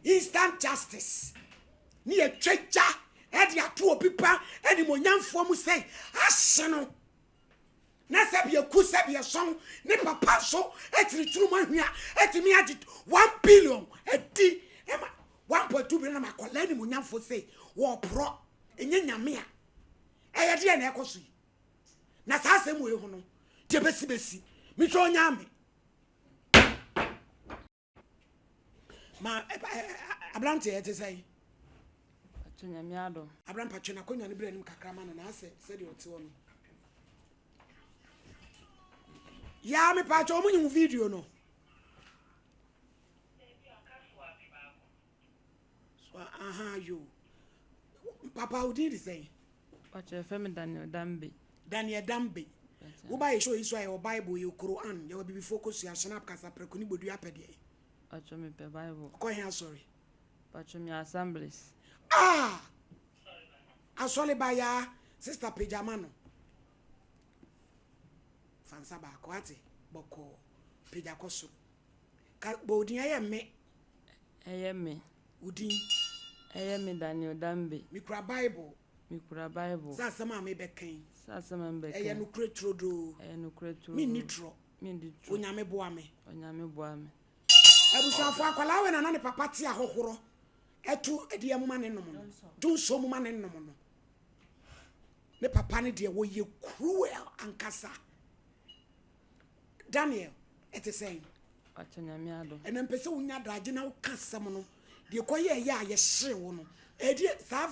Instant justice ne yɛtwa gya de ato obi pa animonyamfoɔ mu sɛi ahye no na sɛbia ku sɛbia sɔn ne papa nso atiri tunu mu ahwia atumi agye 1 billion adi ɛma 1.2 billion na makɔla animonyamfoɔ sɛi wɔporɔ ɛnyɛ nyame a ɛyɛ deɛ na ɛkɔ so yi na saa asɛm wei ho no deɛ bɛsi bɛsi metwa ɔnya me Ma ɛ ɛ ɛ aberanteɛ ɛte sɛ yi. Patro nyame adom. Abram patro na akonnwa no bere anim kakra ma no na asɛ sɛdeɛ ɔte hɔ no. Yaa me patro ɔmo nyi wo video no. So ahaa yoo. Papa wo din de sɛn? Mpakyɛ yɛfrɛ me Daniel Dambe. Daniel Dambe. Wo ba yɛ show yi so ayɛ wɔ Bible yɛ Quran yɛ wɔ bibifoɔ kɔ sua shenap kasa prɛko ne bodua pɛ deɛ. Mpakyɛ me pɛ Bible. Kɔ he asɔre? Mpakyɛ me yɛ assemblies. Ah! Asɔre ba yaa sister pagya ma no. Fansa baako ate bɔkɔɔ pagya kɔ soro. Ka bɔ odin ɛyɛ me. Ɛyɛ me. Wo din. Ɛyɛ me Daniel Dambe. Me kura bible. Me kura bible. Sɛ asɛm a me bɛ kɛn. Sɛ asɛm a me bɛ kɛn. Ɛyɛ nukure turodoo. Ɛyɛ nukure turodoo. Me ni turɔ. Me ni turɔ. Onyame boa me. Onyame boa me. Abusuafo akwalaa wɛ na na ne papa ti ahohoro. Ɛtu ɛdeɛ mu ma ne nom no. Du nsuo mu ma ne nom no. Ne papa ne deɛ wɔyɛ cruel ankasa. Daniel, ɛte sɛn? Wakyɛ Nyame adom. Ɛna mpɛ sɛ wonya adagye na woka asɛm no. Deɛ kɔ yɛ ɛyɛ a yɛhyere wo no. Ɛdeɛ saa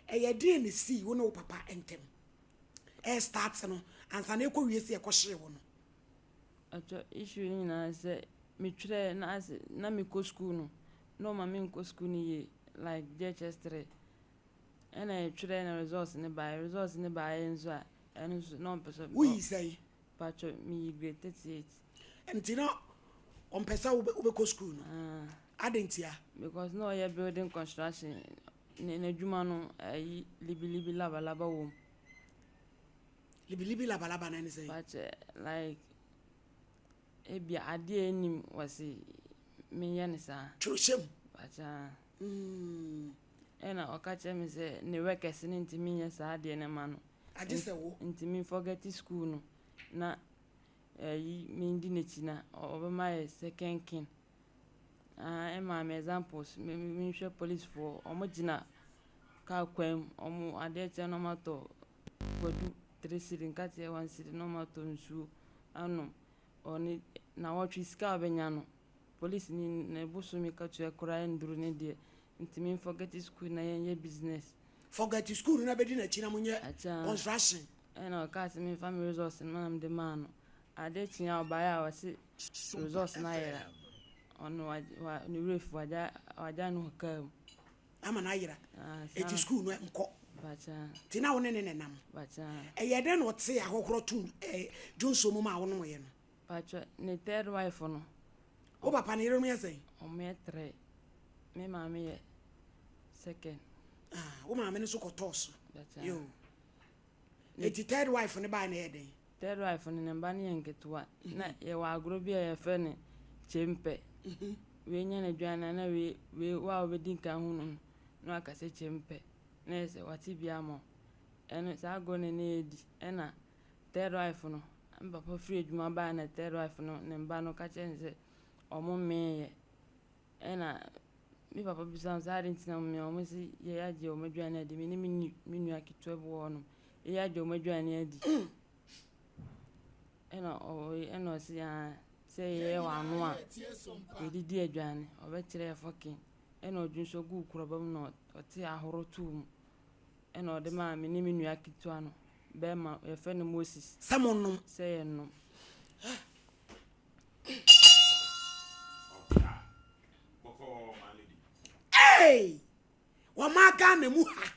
ɛyɛ deɛ ne sii wo ne wo papa ntɛm. Ɛyɛ start no. Ansa na ɛkɔ wie sɛ ɛkɔ hyere wo no. Ɛkyɛ issue no nyinaa sɛ metwerɛ na ase na mekɔ school no. Na ɔma me nkɔ school no yie like JHS 3. Ɛna ɛtwerɛ na results no baeɛ. Results no baeɛ nso a Ɛno nso na ɔmpɛ sɛ. Woyi sɛn? Patro miyi grade thirty eight. Nti na ɔmpɛ sɛ wobɛkɔ sukuu no? Ah. Adɛn ntia? Because na ɔyɛ building construction ne n'adwuma no ayi libilibi labalaba wɔ mu. Libilibi labalaba no ɛne sɛn? Patro like Ebia adeɛ a ɛnnim wɔ se menyɛ no saa. Kyerɛhyɛ mu. But ah. Mm. Ɛna ɔka kyerɛ me sɛ ne workers no ntumi nyɛ saa adeɛ no ma no. Agye sɛ wo. Nti me forget school no na ɛyi mendi n'akyi na ɔbɛma yɛ second kin. Ah, ɛmaa me examples me menhwɛ policefoɔ wɔgyina car kwan mu wɔn adeɛ kyɛ na wɔatɔ Kwadu three cedi nka kyerɛ one cedi na ɔma tɔ nsuo anom ɔne nawɔtwe sika a ɔbɛnya no police ni ne bosome katua koraa ɛnduru ne deɛ nti me forget school na yɛn yɛ business. Forget school no na bɛdi n'akyi na mo nyɛ construction. Ɛna ɔkaa sɛ menfa me resource no na mede maa no adeɛ kye a ɔbaeɛ a ɔse resource no ayera ɔno ne werɛ fi wagya no car mu. ama no ayera enti sukuu no nkɔ nti na wo ne ne na nam ɛyɛ dɛn na ɔte ahɔhorɔ tom dwonsuo mu ma a wonom yɛ no patwɛ ne third wife no wo papa ne yerenom yɛ sɛn ɔmoyɛ trɛ me maame yɛ second ah, wo maame no so kɔtɔɔ so yo Enti third wife no bae no yɛ dɛn? Third wife no, ne mma no yɛ nketewa. Na yɛwɔ agorɔ bi a yɛfrɛ no kyempɛ. Wei nya n'aduane a na wei wei wo a wobɛdi nkan hunu no na waka sɛ kyempɛ. Na ɛyɛ sɛ wate bi ama wo. Ɛno saa agorɔ no na yɛdi. Ɛna third wife no, me papa firi adwuma bae na third wife no ne mma no ka kyerɛɛ no sɛ wɔmmeeɛ. Ɛnna me papa bisaa me sɛ, adɛn nti na me a wɔasi yei agye wɔn aduane adi, me ne me nu me nua ketewa bi wɔ hɔnom, yei agye wɔn aduane adi? Ɛnna ɔwɔ yi ɛnna ɔse aa sɛ yɛyɛ wɔn ano a yɛdidi aduane ɔbɛkyerɛ yɛ fɔken ɛnna ɔdwe nso guu kuraba mu na ɔte ahoro too mu ɛnna ɔde maa me ne me nua ketewa no bɛrima yɛfrɛ no Moses Sɛ monnom. sɛ yɛnnom. Hey! Wɔma Ghana mu ha.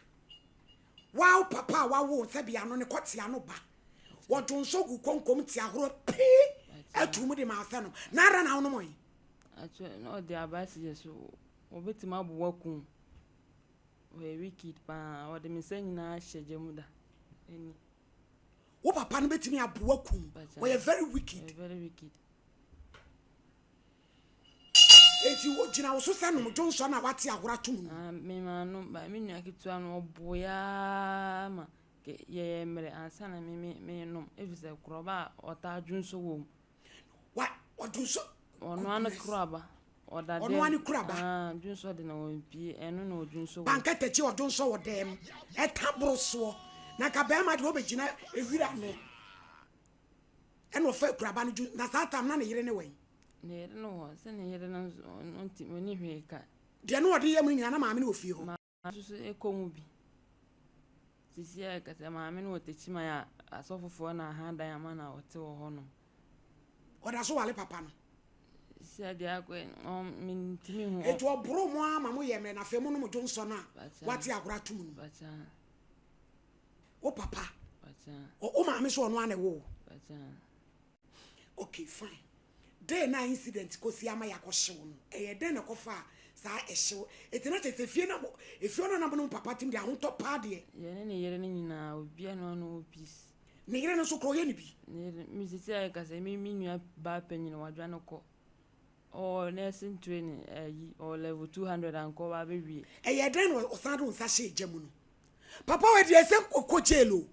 Wow papa a wawo sɛ bia no ne kɔtea no ba. Wɔdwo nso gu konkom te ahoro pii atu mu de ma asɛ no. Na ara na wonom yi. Akyɛ na ɔde abasi yɛ so. Obetumi abo wakum. Ɔyɛ wicked paa. Ɔde me nsa nyinaa hyɛ gya mu da. Ani. Wo papa no betumi aboa kum. Wɔyɛ very wicked. Eti wo gyina wo so sɛ nom dwo nsɔ na wate ahora tom no. Ah, me maa no ba me nua ketewa no ɔbo ya ma yɛyɛ mmerɛ ansa na me me me nom efisɛ korɔba a ɔtaa dwo nsɔ wɔ mu Ɔnoa no koro aba. Ɔda dɛm. Ɔnoa no koro aba. Ah, dwonsɔ de na wɔmpie. Ɛno na ɔdwonsɔ wɔ. Pankɛtɛkyi ɔdwonsɔ wɔ dɛm. Ɛta boro soɔ. Na nka bɛrima deɛ ɔbɛgyina ewira no. Ɛna ɔfa akuraba no dwonsɔ. Na saa tam na ne yere ne wɛn. Ne yere no wɔ. Sɛ ne yere no nso ɔnti ɔni hwee ka. Deɛ na ɔde yɛ mu no nyinaa na maame no wɔ fie hɔ. Nso kɔ mu bi. Seesei a yɛkasa yi, maame no wɔ Techiman a asɔfofoɔ na ahadan ama no a ɔte wɔ hɔnom. Ɔda so ware papa no. Seesei a deɛ akɔ yi, ɔn, mentumi nhu. Enti ɔboro mo ara ma moyɛ mmerɛ na afei monom dwo nsɔ no a Bakyɛ. wate agorɔ ato mo no mu. Bakyɛ. Wo papa, Bakyɛ. ɔ, wo maame nso ɔno ara na ɛwoo wo. Bakyɛ. Okay, fine. Day no a incident kɔ si ama yɛakɔ hyew no, ɛyɛ dɛn na ɛkɔ faa saa ɛhyew? Eti na kyerɛ sɛ efie no, efie hɔ no na mo ne mo papa tem de ahotɔ paa deɛ. Deɛ ne ne yere no nyinaa, obiara nni hɔ a ɔne wɔn peace. Ne yere no nso koraa ɔyɛ ne bi? Ne yere no, me seesei a yɛka sɛ me me nua baa panyin, wadwane kɔ. Ɔwɔ nursing training, ayi, ɔwɔ level two hundred anka ɔba abɛwie. Ɛyɛɛ dɛn na ɔsan de wo nsa hyɛɛ gya mu no? Papa wei deɛ ɛsɛ ɔkɔ jail o.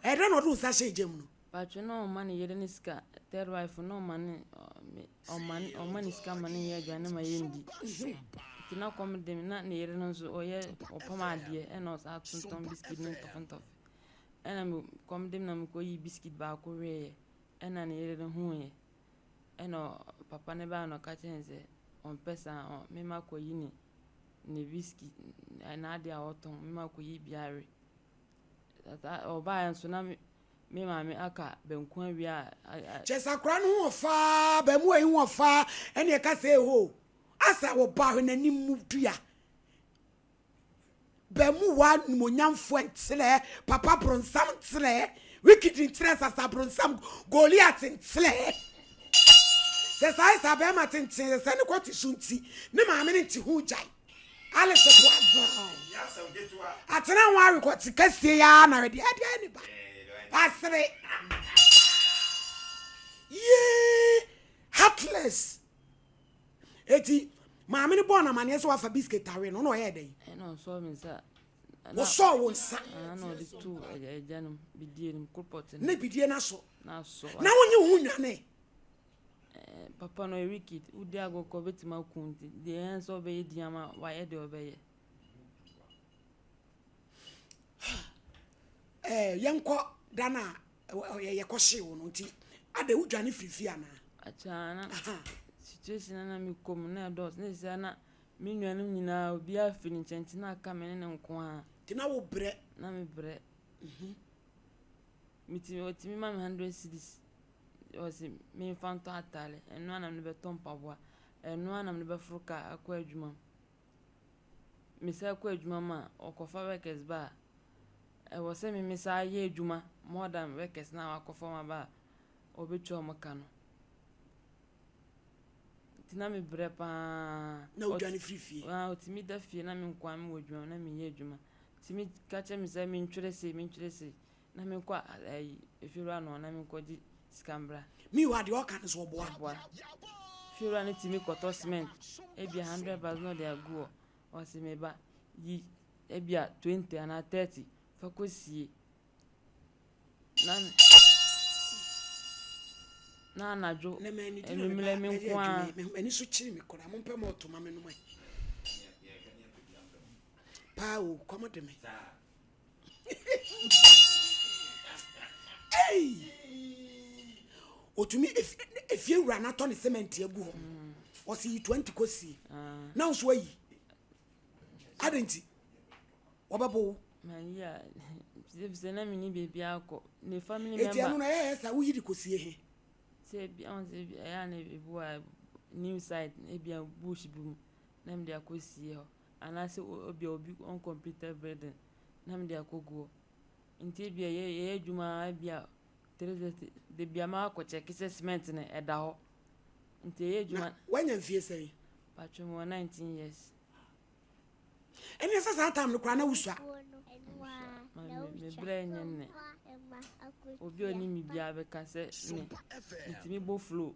Ɛyɛɛ dɛn na ɔde wo nsa hyɛɛ gya mu no? Paatwo na ɔma ne yere ne sika third wife na ɔma ne ɔma ne ɔma ne sika ma ne yɛ aduane ma yɛ ndi nti na kɔm de na ne yere no nso ɔyɛ ɔpam adeɛ ɛna ɔsa atontɔn biskit ne ntɔfe ntɔfe ɛna me kɔm de na mekɔ yi biskit baako weeɛ ɛna ne yere no huuɛ ɛna papa ne baa na ɔka kyerɛ ne sɛ ɔmpɛ saa ɔ mema kɔ yi ne ne biskit n'adeɛ a ɔtɔn mema kɔ yi biara ɔbaa nso na me Me maame aka banku awia a. Kyɛ sɛ akora no ho wɔ faa, abaamuwa yi ho wɔ faa, ɛne ɛka sɛ eho. Asa wɔ ba hwɛ n'anim mu dua. Baamuwa nimonyamfoɔ nkyerɛ, papa bronsam nkyerɛ, wikidi nkyerɛ, sasa bronsam, Goliat nkyerɛ. Sɛ saa yɛ saa bɛɛma tenten sɛ ne kɔ te so nti, ne maame no nte ho gyae. Alice Boazon atena ho awe kɔ sika sie ya na wɛde ɛde ɛni ba asere yee heartless eti maame no bɔɔ n'amaneɛ sɛ wafa biscuit awe no na ɔyɛ dɛ yi wosɔɔ wo nsa ne bidie no aso na wonye wo ho nwane Eh, papa no ɔyɛ wicked. Wodi agorɔ koraa obetumi aku wo nti deɛ ɛyɛ ne sɛ ɔbɛyɛ din ama wo, wayɛ deɛ ɔbɛyɛ. Eh, yɛnkɔ da no a yɛkɔhyee wo no nti ada wodwane firi fie anaa? Akyɛ na situation na mekɔ mu na ɛdɔɔso na ɛsɛ na me nuanom nyinaa obiara firi ne nkyɛn nti na aka me ne ne nko ara. Nti na wobrɛ? Na mebrɛ. Mhm. Metumi, wɔtumi ma me hundred cedis, wɔse memfa ntɔ ataare, ɛno ara na mede bɛtɔ mpaboa, ɛno ara na mede bɛforo kaa akɔ adwuma mu. Mesan kɔ adwuma mu a, wɔkɔfa workers ba a, ɛwɔ sɛ me mesan ayɛ adwuma more than workers no a wɔakɔfa wɔn aba a wɔbɛtua wɔn ka no. Nti na mebrɛ pa ara. Na wodwane firi fie? Ah, wɔtumi da fie na me nkoa mewɔ adwuma mu na menyɛ adwuma. Wɔtumi ka kyerɛ me sɛ mentwerɛ sei, mentwerɛ sei, Na me nkɔ ayi efiewura no hɔ na me nkɔ gye sika mbra. Me wura deɛ ɔka no so ɔboa. Ɔboa. Fiewura no tumi kɔtɔ cement ebia hundred bags na ɔde agu hɔ. Ɔse me ba yi ebia twenty anaa thirty fa kɔ sie. Na me na anadwo enumerɛ me nko ara. M'ani so kyiri me koraa mo mpɛ mɔɔto ma me nom ɛ. Paa o kɔm de me. ɔtumi ɛfie wura no atɔ ne semɛnti agu hɔ ɔse yi 20 kɔsie na wo so ayi adɛn nti wɔbɛbo wo sɛ na mene baabi akɔ ne family member ɛti ɛno na ɛyɛ sɛ woyi de kɔsie he sɛ bi ɔn sɛ bi ɛyɛ a na ebu a new site ebi a bush bi mu na mede akɔsie hɔ anaasɛ ebia obi wɔn computer building na mede akɔ guɔ. Nti ebia yɛ yɛyɛ adwuma ara ebia three thirty dabi a makɔ check sɛ cement no ɛda hɔ nti yɛyɛ adwuma. Na wanya mfie sɛn? Patro mewɔ nineteen years. Ɛneɛ sɛ saa time no koraa na wosua? Mame me brɛ nyɛ nnɛ obi a ɔnim me biara bɛka sɛ me metumi bɔ flow.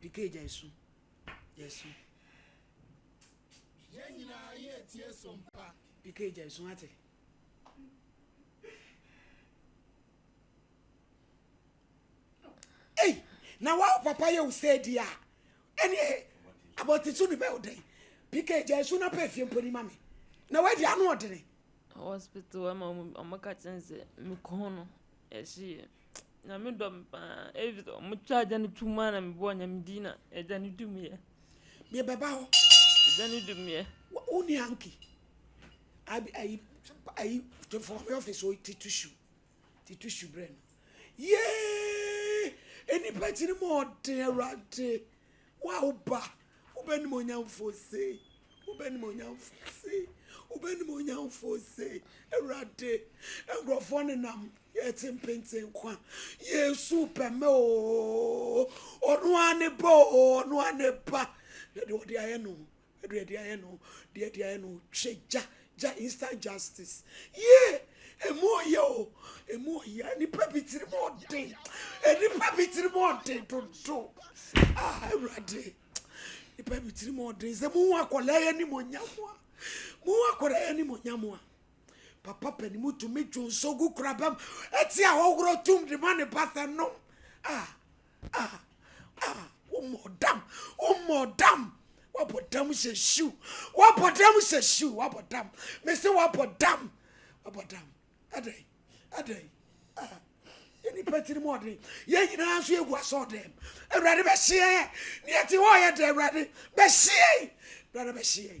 Picay gyae su. Gyae su. Yɛn nyinaa yɛ tie so mpa. Picay gyae su wate. Ei, na wa papa yɛ wo sɛ di a. Ɛne abɔte su ne bɛ wo dɛn. Picay gyae su na pɛ fie mponi ma me. Na wadi ano ɔdene. Hospital hɔ ma ɔmo ɔmo ka kyerɛ me sɛ me kɔn no ɛhye yɛ Nyame dɔ me paa efi sɛ ɔmo twa agya no tuum a na me bɔɔ Nyame din na agya no dum yɛ. Deɛ bɛba hɔ. Agya no dum yɛ. Wo ni hanky? Ayi ayi to for me office o ti tissue. Tito su brɛ no. Yee! Nnipa gyina mu ɔden Awurade. Wo a woba, wobɛnim onyamfoɔ sei. Wobɛnim onyamfoɔ sei. Wobɛnim onyamfoɔ sei. Awurade, nkurɔfoɔ nenam yɛte mpenten nkwa. Yesu pɛmɛ oo. Ɔno ara ne ba oo. Ɔno ara ne ba. Na deɛ ɔde ayɛ no, Ɛdeɛ ɛdeɛ ayɛ no deɛ ɛdeɛ ayɛ no hwɛ gya gya instant justice yee emu ɔyɛ o emu ɔyɛ nipa bi tiri mu ɔden nipa bi tiri mu ɔden dodo ah awurade nipa bi tiri mu ɔden sɛ mu ho akɔla yɛ ni mo nya mo a mu ho akɔla yɛ ni mo nya mo a papa pɛni mu tumi dwo nso gu kura bɛm ɛti a ɔworo tum de ma ne ba sɛ nom ah Ah ah Womɔ dam womɔ dam Wabɔ dam hyɛ hyiw Wabɔ dam hyɛ hyiw Wabɔ dam mese wabɔ dam Wabɔ dam adɛn adɛn ah yɛ nipa tiri mu ɔden yɛn nyinaa nso yɛgu asɔ dɛm awurade bɛhyeɛ yɛ ne yɛte hɔ yɛ dɛ awurade bɛhyeɛ awurade bɛhyeɛ